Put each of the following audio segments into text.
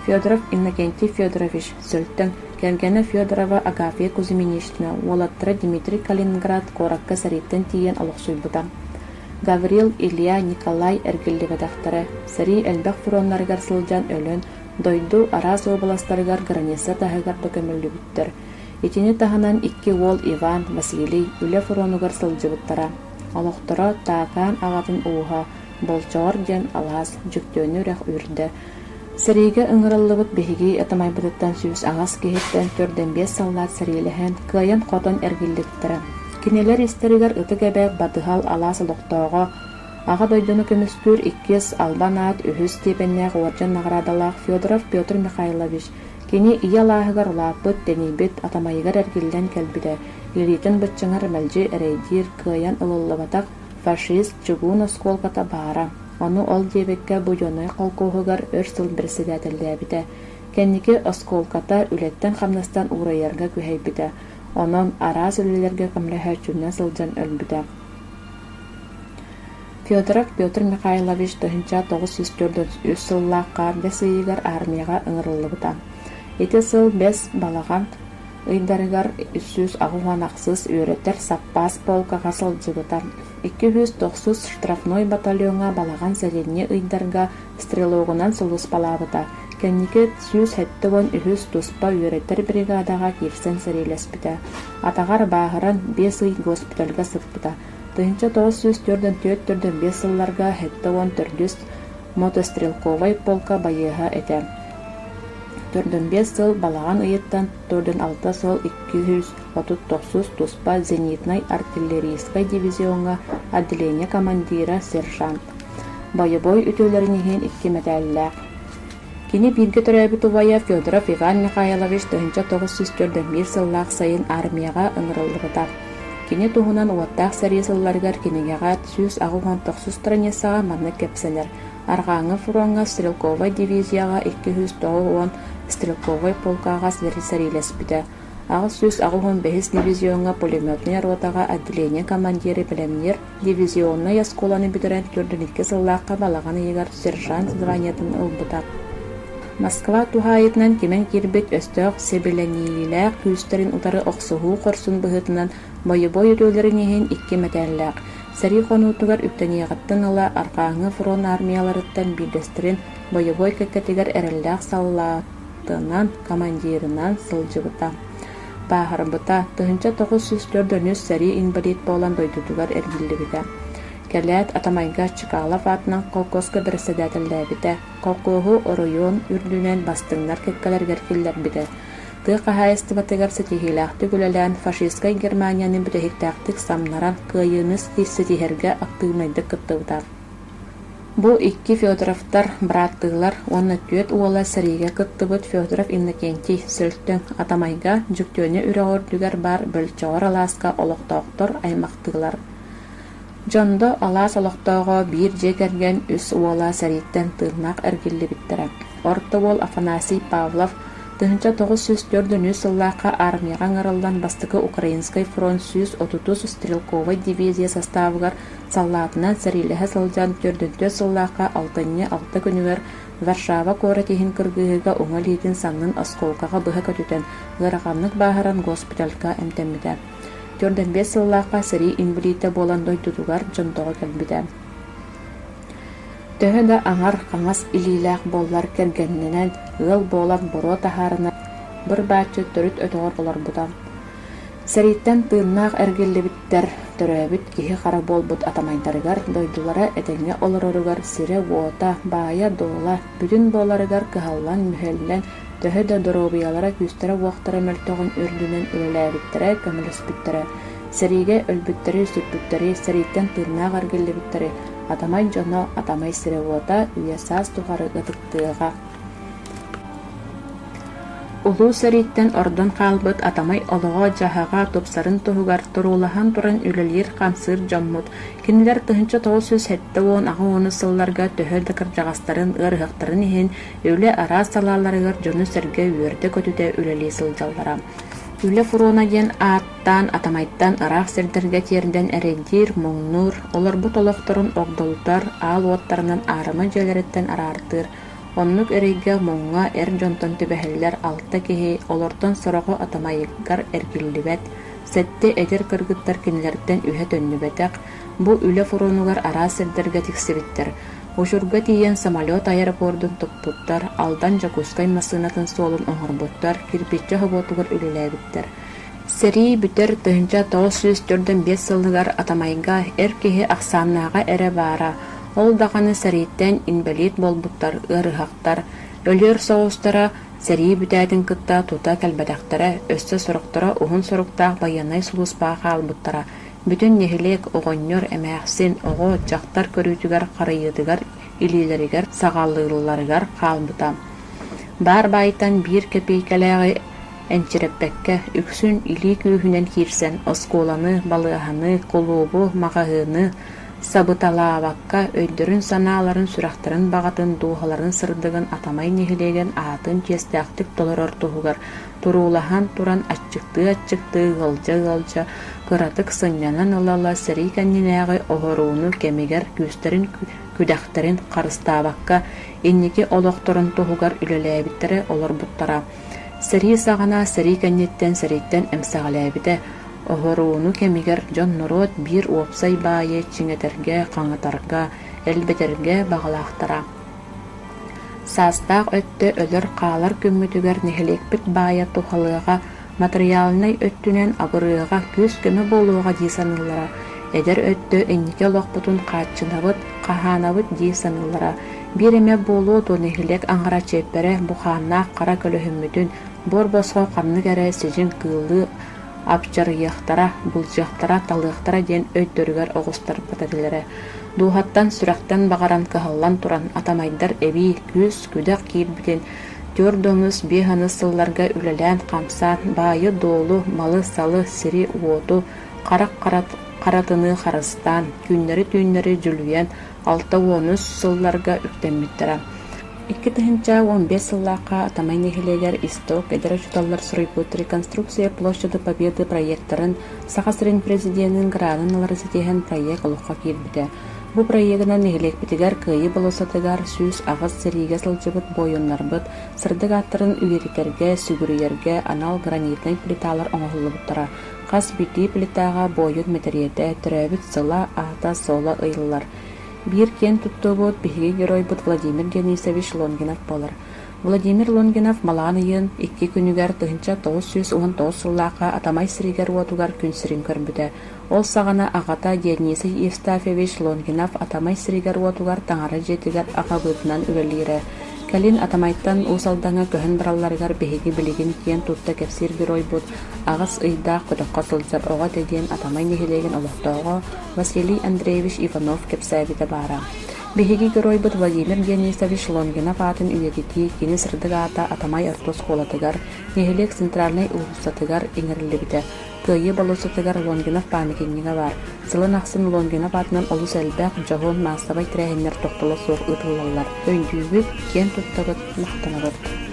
Федоров Иннокентий Федорович, Сүлтэн, кэргэнэ Федорова Агафья Кузьминична, уолаттара Дмитрий Калининград куоракка сэрииттэн тиийэн олохсуйбута. Гаврил, Илья, Николай эргиллибэтэхтэрэ, сэрии элбэх фроннарыгар сылдьан өлөн, дойду араас уобаластарыгар граница таһыгар да көмүллүбүттэр. Итини таһынан икки уол Иван, Василий үлэ фронугар сылдьыбыттара. Олохторо Таакаан аҕатын ууһа Болчоҕор диэн алаас Дьөктөөнү үрэх үүрдэ, Сэриигэ ыҥырыллыбыт биһиги атамайбытыттан сүүс аҕыс киһиттэн төрдөн-биэс саллаат сэриилэһэн, кыайан-хотон эргиллибиттэрэ. Кинилэр истэригэр ытык эбээх Батыһал алаас олохтооҕо, Аҕа дойдуну көмүскүүр иккис албан аат үһүс степеннээх уордьан наҕараадалаах Федоров Петр Михайлович кини ийэ алааһыгар улааппыт, тэнийбит, атамайыгар эргиллэн кэлбитэ, илиитин быччыҥар мэлдьи эрэйдиир, кыайан ылыллыбатах, Фашист чугуун оскуолката баара, ону ол диэбиккэ Будьуоннай холкуоһугар өр сыл бэрэссэдээтэллээбитэ. Кэнники оскуолката үлэттэн-хамнастан уурайарга күһэйбитэ, онон араас үлэлэргэ көмөлөһөөччүннэ сылдьан өлбүтэ. Федоров Петр Михайлович тыһыынча тоҕус сүүс төрдүс үс сыллаахха бэс ыйыгар аармыйаҕа ыҥырыллыбыта. Ити сыл бэс балаҕан ыйдарыгар сүүс аҕыс уон ахсыс үөрэтэр саппаас полкаҕа сылдьыбытым. Икки сүүс тохсус штрафной батальоҥҥа балаҕан сэлинньи ыйдарга стрелогунан сулууспалаабыта. Кэнники сүүс сэттэ уон үһүс туспа үөрэтэр бригадаҕа киирсэн сэриилэспитэ. Атаҕар бааһыран биэс ый госпитальга сыппыта. Тыһыынча тоҕус сүүс төрдөн төрт төрдөн биэс сылларга сэттэ уон төрдүс мотострелковай полка байыаһа этэ. Төрдүнбиэс сыл балаҕан ыйыттан төрдүналта суол икки сүүс отут тохсус туспа зенитнай артиллерийскай дивизиоҥҥа отделение командира сержант. Бойобуой үтүөлэрин иһин икки мэтээллээх. Кини бииргэ төрөөбүт убайа Федоров Иван Михайлович тыһыынча тоҕус сүүс төрдүн сыллаах сайын армияҕа ыҥырыллыбыта. Кини туһунан уоттаах сэрии сылларыгар кинигэҕэ сүүс аҕыс уон тохсус страницаҕа маннык кэпсэнэр: Арҕааҥҥы фроҥҥа стрелковай дивизияҕа икки сүүс тоҕус уон стрелковай полкаҕа сэриилэспитэ, аҕыс сүүс аҕыс уон бэһис дивизиоҥҥа пулеметнай ротаҕа отделение командиры пэлэмниир дивизионнай оскуоланы бүтэрэн төрдүн икки сыллаахха балаҕан ыйыгар сержант званиетын ылбыта. Москва туһаайытынан кимэн киирбит өстөөх сэбилэниилээх күүстэрин утары охсуһуу хорсун быһыытынан Бойобуой үтүөлэрин иһин икки мэтээллээх, сэрии хонуутугар үктэниэҕиттэн ыла Арҕааҥы фрон аармыйаларыттан биирдэстэрин бойобуой кэккэтигэр эрэллээх саллаатынан, командирынан сылдьыбыта. Бааһырбыта, тыһыынча тоҕус сүүс төрт дьону сэрии инбэлиит буолан дойдутугар эргиллибитэ. Кэлээт атамайга Чекалов аатынан холкуоска бэрэссэдээтэллээбитэ, холкуоһу оройуон үрдүнэн бастыҥнар кэккэлэригэр киллэрбитэ. тыа хаһаайыстыбатыгар ситиһиилээхтик үлэлээн фашистскай Германияны бүтэһиктээхтик самнаран кыайыыны ситиһэргэ актыыбынайдык кыттыбыта. Бу икки Федоровтар бырааттыылар уонна түөрт уола сэриигэ кыттыбыт Федоров Иннокентий Сөлтөҥ Атамайга Дьөктүөнэ үрэх үрдүгэр баар бөлчөҕөр алааска олохтоохтор аймахтыылар. Дьондо алаас олохтооҕо биир дьиэ кэргэн үс уола сэрииттэн тыыннаах эргиллибиттэрэ. Орто уол Афанасий Павлов Тыһыынча тоҕус сүүс түөрт нөҥүө сыллаахха аармыйаҕа ыҥырыллан бастакы Украинскай фронт сүүс отутус стрелковай дивизия састаабыгар саллаатынан сэриилэһэ сылдьан төрдүнтүөт сыллаахха алтынньы алта күнүгэр Варшава куорат иһин кыргыһыыга уҥа илиитин саннын оскуолкаҕа быһа көтүтэн ыараханнык бааһыран госпитальга эмтэммитэ. Төрдөн биэс сыллаахха сэрии инбэлиитэ буолан дойдутугар дьонтоҕо кэлбитэ. Төһө да аҥар хаҥас илиилээх буоллар кэргэннэнэн, ыал буолан боруо таһаарынар быр-бааччы төрүт өтөҕөр олорбута. Сэрииттэн тыыннаах эргиллибиттэр, төрөөбүт киһи-хара буолбут атамайдарыгар, дойдулара этэҥҥэ олороругар сирэ-уота, баайа-дуола бүтүн буоларыгар кыһаллан-мүһэллэн, төһө да доруобуйалара күүстэрэ-уохтара мөлтөҕүн үрдүнэн үлэлээбиттэрэ, көмөлөспүттэрэ Сэриигэ өлбүттэри-сүрбүттэри, сэрииттэн тыыннаах эргиллибиттэри атамай дьоно, атамай сирэ-уота, үйэ-саас тухары ытыктыаҕа. Улуу сэрииттэн ордон хаалбыт атамай олоҕо-дьаһаҕа тупсарын туһугар туруулаһан туран үлэлиир-хамсыыр дьоммут кинилэр тыһыынча тоҕус сүүс сэттэ уон аҕа ууну сылларга төһө да кырдьаҕастарын ыарыһахтарын иһин үлэ араас салааларыгар дьону-сэргэ үөрдэ-көтүтэ үлэлии сылдьаллара. Үлэ фурона диэн аат Таан Атамайтан ыраах сирдэргэ тиэрдэн эрэйдиир, муҥнуур, олорбут олохторун огдолутар, аал уоттарынан аарыма дьиэлэриттэн араартыыр, оннук эрэйгэ, муҥҥа эр дьонтон түбэһэллэр алта киһи, олортон сороҕо Атамайыгар эргиллибэт, сэттэ эдэр кыргыттар кинилэртэн үһэ төннүбэтэх, бу үлэ фронугар араас сирдэргэ тиксибиттэр. Учурга тиийэн самолет аэропордун туппуттар, Алдан Дьокуускай массыынатын суолун оҥорбуттар, кирпиччэ хоботугар үлэлээбиттэр. Сэрии бүтэр тыһыынча тоҕус сүүс төрдүн биэс сылыгар Атамайга эр киһи ахсааннааҕа эрэ баара, ол даҕаны сэрииттэн инбэлиит буолбуттар ыарыһахтар, өлүөр соҕустара, сэрии бүтээтин кытта тута кэлбэтэхтэрэ, өссө сорохторо уһун соруктаах байыаннай сулууспаҕа хаалбыттара, бүтүн нэһилиэк, оҕонньор, эмээхсин, оҕо, дьахтар көрүүтүгэр харайыытыгар илиилэригэр саҕалыылларыгар хаалбыта. Баар баайтан биир кэпиэйкэлээҕи Энчирэппэккэ үксүн илии күүһүнэн киирсэн оскуоланы, балыаһаны, кулуубу, маҕаһыыны сабыталаабакка өйдөрүн-санааларын, сүрэхтэрин баҕатын, дууһаларын сырдыгын Атамай нэһилиэгин аатын чиэстээхтик толорор туһугар туруулаһан туран аччыктыы-аччыктыы ыалдьа-ыалдьа кыратык сынньанан ыла-ыла сэрии кэннинээҕи оһорууну кэмигэр күүстэрин күдэхтэрин харыстаабакка инники олохторун туһугар үлэлээбиттэрэ олорбуттара Сэрии саҕана сэрии кэнниттэн сэрииттэн эмсэҕэлээбитэ, оһоруону кэмигэр дьон-норуот биир уопсай баайы чиҥэтэргэ, хаҥатарга, элбэтэргэ баҕалаахтара. Саастаах өттө өлөр-хаалар күммүтүгэр нэһилиэкпит баайа туһалыаҕа, матырыйаалынай өттүнэн абырыаҕа, күүс-көмө буолуоҕа дии саныыллара, эдэр өттө инники олохпутун хааччынабыт, хаһаанабыт дии саныыллара, Биир эмэ буолуо дуо нэһилиэк аҥара чиэппэрэ бухааннаах хара көлөһүммүтүн буор босхо ханнык эрэ сидьиҥ кыыллыы абдьарыйыахтара, былдьыахтара, талыахтара диэн өйдөрүгэр оҕустарбыт этилэрэ. Дууһаттан, сүрэхтэн баҕаран кыһаллан туран атамайдар эбии күүс-күдэх киирбитин түөрт да ымыс, биэс ымыс сылларга үлэлээн-хамсаан баайы-дуолу, малы-салы, сири-уоту, харах харатыныы харыстаан, түүннэри-түүннэри дьүлүйэн алта уон үс сылларга үктэммиттэрэ. Икки тыһыынча уон биэс сыллаахха Атамай нэһилиэгэр Исток эдэр учууталлар стройпут «Реконструкция площади Победы» проектарын Саха сирин Президенин гранын ылары ситиһэн проект олоххо киирбитэ. Бу проегынан нэһилиэкпитигэр Кыайыы болосатыгар сүүс аҕыс сэриигэ сылдьыбыт буойуннарбыт сырдык ааттарын үөрэтэргэ, сүгүрүйэргэ анал гранитнай плиталар оҥоһуллубуттара. Хас биирдии плитаҕа буойут мэтириэтэ, төрөөбүт сыла, аата-суола ыйыллар. Биир киэн туттуубут, биһиги геройбут Владимир Денисович Лонгинов буолар. Владимир Лонгинов Малаан ыйын икки күнүгэр тыһыынча тоҕус сүүс уон тоҕус сыллаахха Атамай сиригэр-уотугар күн сирин көрбүтэ. Ол саҕана аҕата Дионисий Евстафьевич Лонгинов Атамай сиригэр-уотугар таҥара дьиэтигэр аҕабыытынан үлэлиирэ. Кэлин Атамайтан Уус Алдаҥҥа көһөн баралларыгар биһиги билигин киэн тутта кэпсиир геройбут Аҕыс ыйдаах көтөххө сылдьар оҕо этэ диэн Атамай нэһилиэгин олохтооҕо Василий Андреевич Иванов кэпсээбитэ баара. Биһиги геройбут Владимир Дионисович Лонгинов аатын үйэтитии кини сырдык аата Атамай орто оскуолатыгар, нэһилиэк центральнай уулуссатыгар иҥэриллибитэ. Кыайыы болуоссатыгар Лонгинов паамятиннига баар. Сылын ахсын Лонгинов аатынан олус элбэх дьоһун маассабай тэрээһиннэр тохтоло суох ыытыллаллар. Өйдүүбүт, киэн туттабыт, махтанабыт.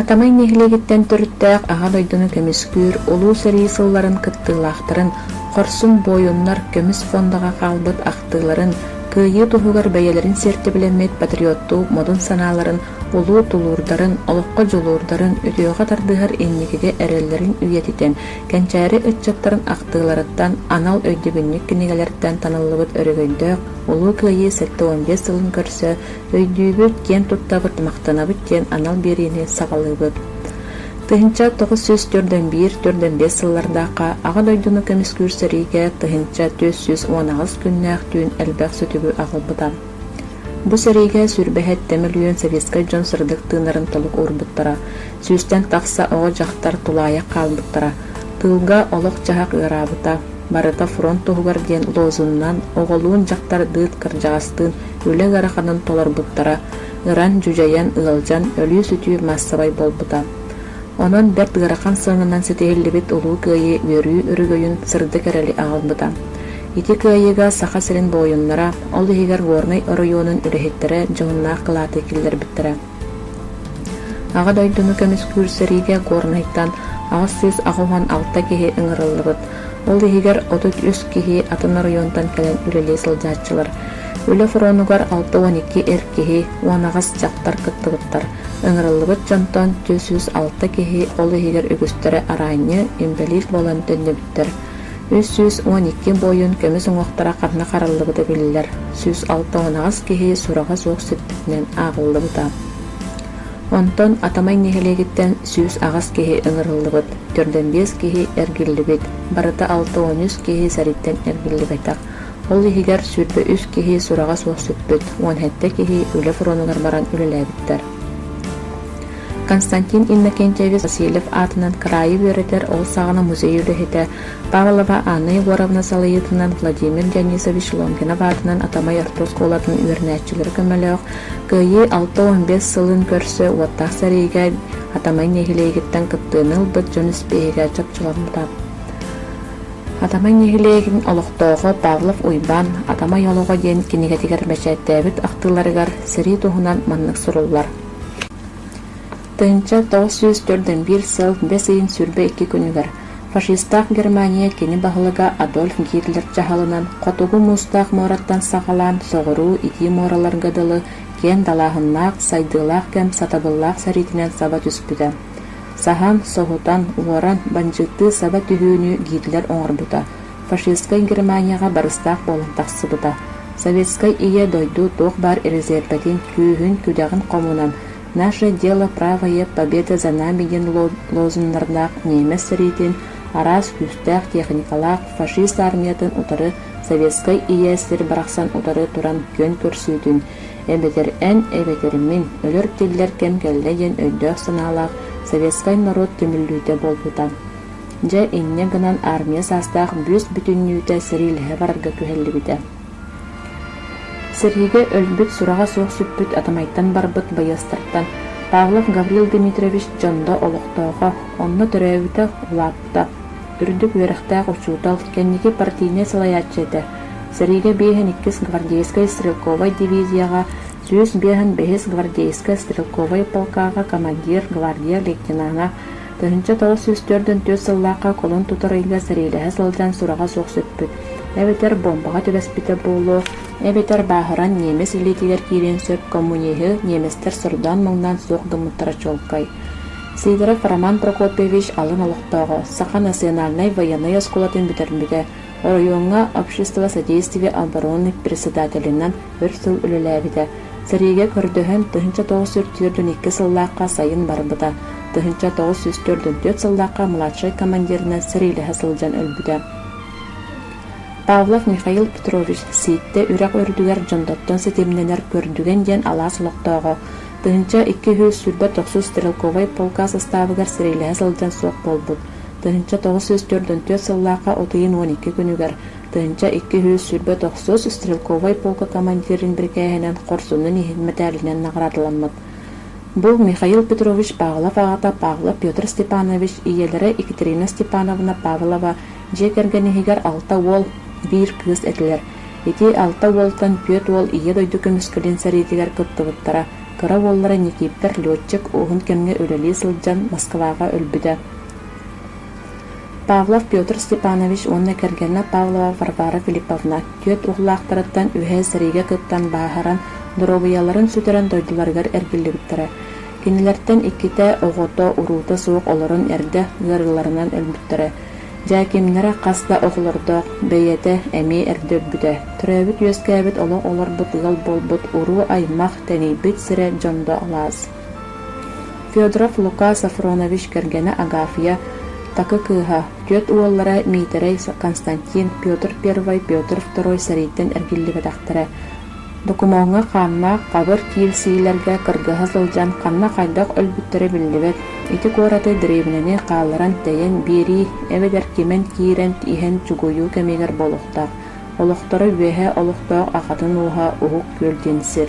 Атамай нэһилиэгиттэн төрүттээх Аҕа дойдуну көмүскүүр Улуу сэрии сылларын кыттыылаахтарын хорсун буойуннар көмүс фондаҕа хаалбыт ахтыыларын, кыайыы туһугар бэйэлэрин сиэртибэлэммит патриоттуу модун санааларын, улуу тулуурдарын, олоххо дьулуурдарын, үтүөҕэ тардыһар инникигэ эрэллэрин үйэтитэн, кэнчээри ыччаттарын ахтыыларыттан, анал өйдөбүнньүк кинигэлэртэн таныллыбыт өрөгөйдөөх Улуу кыайыы сэттэ уон биэс сылын көрсө Өйдүүбүт диэн туттабыт, махтанабыт диэн анал биэриини саҕалыыбыт. Тыһыынча тоҕус сүүс төрт уон биир төрт уон биэс сыллардаахха Аҕа дойдуну көмүскүүр сэриигэ тыһыынча түөрт сүүс уон аҕыс күннээх түүн элбэх сүтүгү аҕалбыта. Бу сэриигэ сүүрбэһит мөлүйүөн советскай дьон сырдык тыынарын толук уурбуттара, сүүстэн тахса оҕо-дьахтар тулаайах хаалбыттара, тыылга олох-дьаһах ыараабыта, барыта фронт туһугар диэн лозуннан оҕолуун дьахтардыын кырдьаҕастыын үлэ ыараханын толорбуттара ыран, дьүдьэйэн, ыалдьан, өлүү-сүтүү маассабай буолбута. Онон бэрт ыарахан сыананан ситиһиллибит Улуу Кыайыы үөрүү өрөгөйүн сырдык эрэли аҕалбыта. Ити кыайыыга Саха сирин буойуннара, ол иһигэр Горнай оройуонун үлэһиттэрэ дьоһуннаах кылааты киллэрбиттэрэ. Аҕа дойдуну көмүскүүр сэриигэ Горнайтан аҕыс сүүс аҕыс уон алта киһи ыҥырыллыбыт. Ол иһигэр отут үс киһи атын оройуонтан кэлэн үлэлии сылдьааччылар. Үлэ фронугар алта уон икки эр киһи уон аҕыс дьахтар кыттыбыттар. Ыҥырыллыбыт дьонтон түөрт сүүс алта киһи, ол иһигэр үгүстэрэ араанньы, инбэлиит буолан төннүбүттэр. Үс сүүс уон икки буойун көмүс уҥуохтара ханна хараллыбыта биллэр, сүүс алта уһунаҕас киһи сураҕа суох сүппүтүнэн ааҕыллыбыта. Онтон Атамай нэһилиэгиттэн сүүс аҕыс киһи ыҥырыллыбыт, төрдөн биэс киһи эргиллибит, барыта алта уон үс киһи сэрииттэн эргиллибэтэх. Ол иһигэр сүүрбэ үс киһи сураҕа суох сүппүт, уон сэттэ киһи үлэ фронугар баран үлэлээбиттэр. Константин Иннокентьевич Васильев аатынан кыраайы үөрэтэр ол саҕана музей үлэһитэ, Павлова Анна Егоровна салайыытынан Владимир Дионисович Лонгинов аатынан Атамай орто оскуолатын үөрэнээччилэрэ көмөлөөх кыайыы алта уон биэс сылын көрсө уоттаах сэриигэ Атамай нэһилиэгиттэн кыттыыны ылбыт дьон испииһэгэ чопчуланна. Атамай нэһилиэгин олохтооҕо Павлов Уйбаан «Атамай олоҕо» диэн кинигэтигэр бэчээттээбит ахтыыларыгар сэрии туһунан маннык суруллар Тыһыынча тоҕус сүүс төрдөн сыл бэс ыйын сүрбэ икки күнүгэр фашистаах Германия кини баһылыга Адольф Гитлер дьаһалынан хотугу муустаах муораттан саҕалаан соҕуруу итии муораларга дылы киэн далааһыннаах, сайдыылаах кэм сатабыллаах сэриитинэн саба түспүтэ. Саһан, соһутан, уоран, бандьыыттыы саба түһүүнү Гитлер оҥорбута, фашистскай Германияҕа барыстаах буолан тахсыбыта, Советскай Ийэ дойду туох баар резервэтин, күүһүн, күдэҕин хомунан «Наше дело правое победы за нами» диэн лозуннардаах ниэмэс сэриитин араас күүстээх тиэхиньикалаах фашист аармыйатын утары Советскай Ийэ сир барахсан утары туран күөн көрсүүтүн Эбэтэр эн, эбэтэр мин, өлөр-тиллэр кэм кэллэ диэн өйдөөх-санаалаах советскай норуот түмүллүүтэ буолбута. Дьэ, инньэ гынан армия саастаах бүүс бүтүннүүтэ сэриилэһэ барарга күһэллибитэ. Сэриигэ өлбүт сураҕа суох сүппүт атамайтан барбыт байыастартан Павлов Гаврил Дмитриевич Дьондо олохтоохо, онно төрөөбүтэ улааппыта. ыытта. Үрдүк үөрэхтээх учуутал, кэнники партийнай салайааччы этэ. Сэриигэ биэһин иккис гвардейскай стрелковай дивизияҕа, сүүс биэһин биһис гвардейскай стрелковай полкаҕа командир, гвардия лейтенана, тыһыынча тоҕус сүүс төрдүн түөрт сыллаахха колун тутар ыйга сэриилэһэ сылдьан сураҕа суох сүппүт, эбэтэр буомбаҕа түбэспитэ буолуо, эбэтэр бааһыран немец илиитигэр киириэн сөп коммуниһы немецтэр сордоон-маҥнаан суох гыммыттара чуолкай. Сидоров Роман Прокопьевич алын олохтооҕо, Саха национальнай байыаннай оскуолатын бүтэрбитэ, оройуоҥҥа общество содействия оборонных председателинэн өр сыл үлэлээбитэ. Сэриигэ көрдөһөн, тыһыынча тоҕус сүүс төртүөн икки сыллаахха сайын барбыта, тыһыынча тоҕус сүүс төрдүн түөрт сыллаахха младшай командирынан сэриилэһэ сылдьан өлбүтэ. Павлов Михаил Петрович Сииттэ үрэх үрдүгэр Дьондоттон ситимнэнэр Көрдүгэн диэн алаас олохтооҕо, Тыһыынча икки сүүс сүүрбэ тохсус стрелковай полка састаабыгар сэриилэһэ сылдьан суох буолбут. Тыһыынча тоҕус сүүс төрдүн түөрт сыллаахха от ыйын уон икки күнүгэр тыһыынча икки сүүс сүүрбэ тохсус стрелковай полка командирын бирикээһинэн Хорсуннун иһин мэтээлинэн наҕараадаламмыт. Бу Михаил Петрович Павлов аҕата Павлов Петр Степанович, ийэлэрэ Екатерина Степановна Павлова дьиэ кэргэн иһигэр алта уол, биир кыыс этилэр. Ити алта уолтан түөрт уол Ийэ дойду көмүскэлин сэриитигэр кыттыбыттара, кыра уоллара Никииппэр летчик уһун кэмҥэ үлэлии сылдьан Москваҕа өлбүтэ. Павлов Петр Степанович уонна кэргэнэ Павлова Варвара Филипповна түөрт уоллаахтарыттан үөһэ сэриигэ кыттан бааһыран, доруобуйаларын сүтэрэн дойдуларыгар эргиллибиттэрэ. Кинилэртэн иккитэ, оҕото, уруута суох олорон эрдэ ыарыыларынан өлбүттэрэ. Дьэкимнэрэ хас да оҕолордоох бэйэтэ эмиэ эрдэрбитэ, төрөөбүт-үөскээбит олох олорбут ыал буолбут уруу-аймах, тэнийбит сирэ дьон да алаас. Федоров Лука Сафронович кэргэнэ Агафья, такы кыыһа, түөрт уоллара Миитэрэй, Константин, Петр I, Петр II сэрииттэн эргиллибэтэхтэрэ, Докумуоҥҥа хааннаах хабыр киирсиилэргэ кыргыһа сылдьан ханна хайдах өлбүттэрэ биллибэт, ити куораты дэриэбинэни хаалларан тэйэн биэрии эбэтэр кимэн киирэн иһэн чугуйуу кэмигэр буолуохтаах. Олохторо үөһэ олохтоох акатын ууһа Уһук Күөл диэн сир.